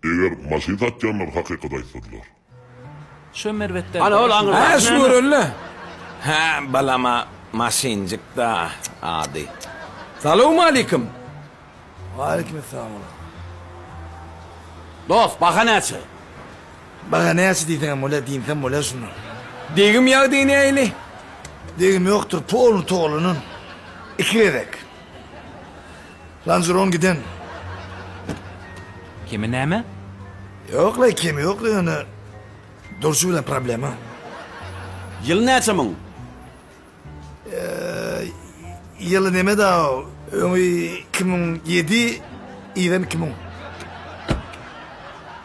Eger maşyn satýanlar hakykaty aýtsadylar. Şo merbetde. Ana ol aňyrdaky näme? Hä şu görelle. Hä balama maşynjykda ady. Salowmalikim. Walikim essalam ola. Dos baha näçe. Baha näçe diýseňem bolýa diýmsem bolýa şunda. Degim ýagdaýy näili. Degim ýokdur polny togalanan iki gezek. Lanjuron giden. Kemi näme? Ýoklaý kemi ýoklaý ýöne durşy bilen problema. Ýyly näçe muň? Ýyly neme daw öňi iki müň ýedi yzem iki müň.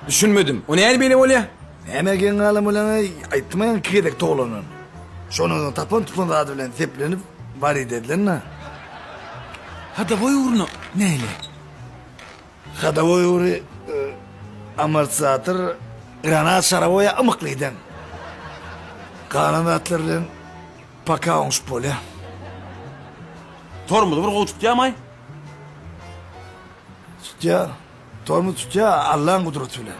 Düşünmedim. O näde beýle bolýa? Näme geň galan bolaňaý, aýtmaň iki gezek toglanan. Şondan soň tapan tutan zady bilen seplenip Waride edilen-dä. Hadowoý ugryna näle? Hadowoý ugry, amortizator, granat şarawoýa ymykly giden. Galan zatlar bilen poka oňşup bolýa. Tormozy bir gowy tutýamaý? Tutýa. Tormoz tutýa Allaň gudraty bilen.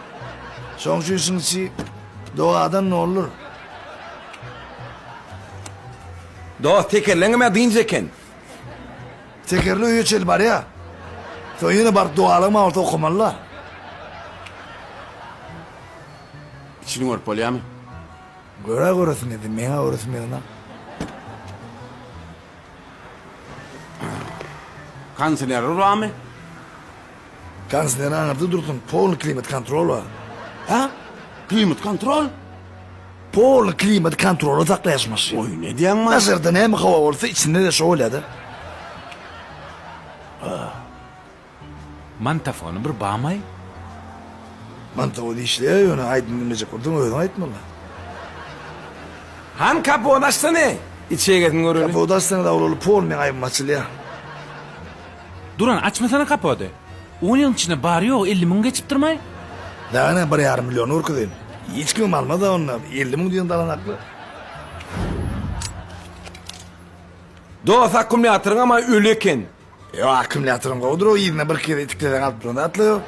Şoň üçin işiň içi dogadan doldur. Dos tekerleňemä dynç eken. Tekerli öýe çenli barýa. Soň ýene baryp dogalygym bolsa okamalyla. Içini görüp bolýamy? Göra göresim geldi, meňa göresim gelena. Kondisiýoneri barmy? Kansler aňyrda dursun, polny klimat kontrol bar. Hä? Klimat kontrol? Polny klimat kontrola saklaýaş maşyn. Oý, nädýäň maý? Daşarda näme howa bolsa, içinde-de şo bolýa-da. Mantafony bir bamaý? Mantafon işleýär, ýöne aýdym diňlejek bolsaň özüň aýt malla. Hany kapot açsana, içegesini göreli. Kapot açsaň-da awlaly pol meň aýbym açylýa. Duran, açmasana kapody. On ýylyň içinde bary-ýogy elli müň geçipdirmaý? Näme, bir ýarym milliony görkezeyim? Hiç kimem almaz-a onda, elli müň diýen dalanakly. Dost, akkumulýatoryňam-a öli eken. Ýok, akkumulýatoram gowudyr-ow, yzyna birki gezek itikleseň alyp duran zatla ýok.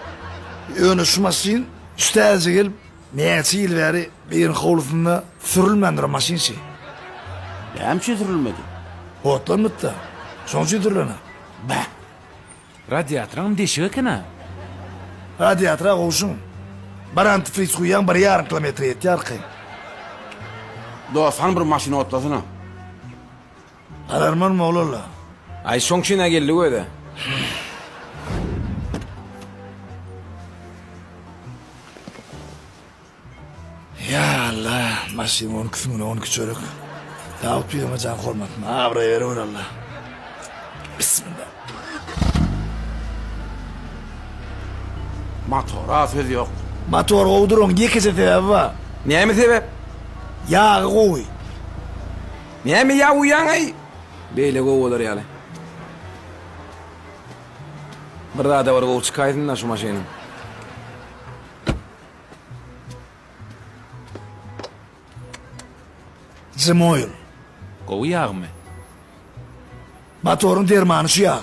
Ýöne şu maşyn üç täze gelip, Näçe ýyl bäri biriň howlusynda sürülmän duran maşyn şi. Näme üçin sürülmedi? Otlanmytda. Şoň üçin sürülener. Bä. Radiatoryňam deşik eken-a. Radiatora gowşuň. Bir antifriz guýýaň bir ýarym kilometre ýetýär arkaýyn. Dos, hany bir maşyny otlasana. Galarman moglalla. Aý şoň üçin-ä geldik özä. Ýa Alla, maşyn on iki süňňüne on iki çörek. Dawut pirime jan hormatyn, abraý berewer Alla. Bismillah. Motora söz ýok. Motor gowy duranyň ýekeje sebäbi bar. Näme sebäp? Ýagy gowy. Näme ýabuýaňaý? Beýle gowy bolar ýaly. Bir zada bir gowy çykaýsynda şu maşynyň. Jimoil. Gowy ýagmy? Motoryň dermany şu ýag.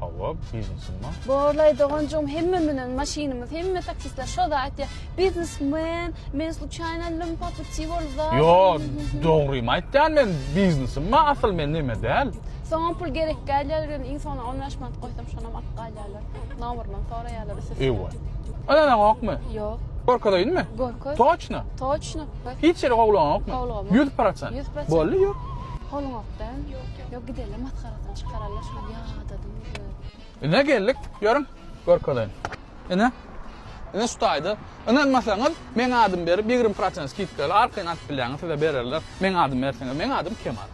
Hawa, biznesmen. Borlaý doganjygym hemme menen maşynymyz, hemme taksistler şo zat aýtýar. Biznesmen, men sluçaýna lim po puti bolup zat. Ýo, dogrymy aýtýan men biznesmen asyl men neme däl. Soňam pul gerek gelýär gel iň soňuna on bäş manat goýsam şonam alyp galýarlar. Nomerman soraýarlar üstesine. Ewa. Ynana gokmy? Ýok. Gorkazaýynmy? Gorkaz. Toçno? Toçno. Hiç ýere gowlaňokmy? Gowlagam. Ýüz prosent. Ýüz prosent. Boldy ýok. Poluň gok däl. Yok gideli maskarasyny çykarala şu ýadadyň özüni. Ine geldik, ýörüň, görkezeýin. Ine. Ine şu taýda. Ynanmasaňyz, meň adym berip, ýigrimi prosent skidkaly arkaýyn alyp bilýäňiz, size bererler. Meň adym berseňiz, meň adym Kemal.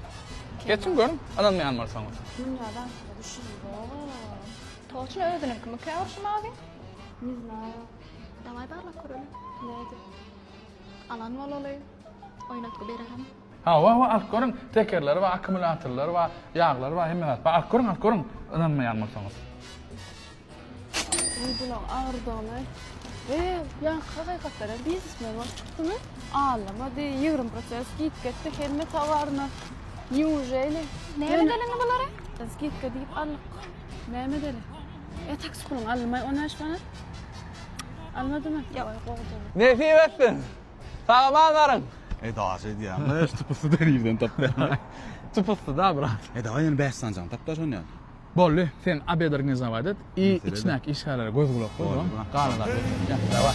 Geçiň görüň, ynanmaýan bolsaňyz. Dünýä daşda düşünýär. Toçyn özüniňkimikä ol şu mawy? Ne znаю. Daway barlap göreli. Nädip? Alan bolaly. Oýnatgy bererin. Hawa hawa alyp görüň tekerleri bar akkumulýatorlary bar ýaglary bar hemme zat bar alyp görüň alyp görüň ynanmaýan bolsaňyz. Oý bulag agyrdygyny we ýaňky hakykatlara biznesmen bolup çykdymy allamady ýigrimi prosent skidka etdi hemme towaryna niujeli Näme deliňi bulary? skidka diýip aldyk näme deli e taksi puluň alynmaý on bäş manat almadymy Ýok. Nesip etsin. Salaman garyn. E daş edýäňmi şu tupusy deriden tapýaňmy. Tupusy da brat. E daway ýene bäş sanjany tap da şony ýaly. Boldy sen obed organizować et i içindäki işgärlere göz gulak bol soň galanlary. Daway.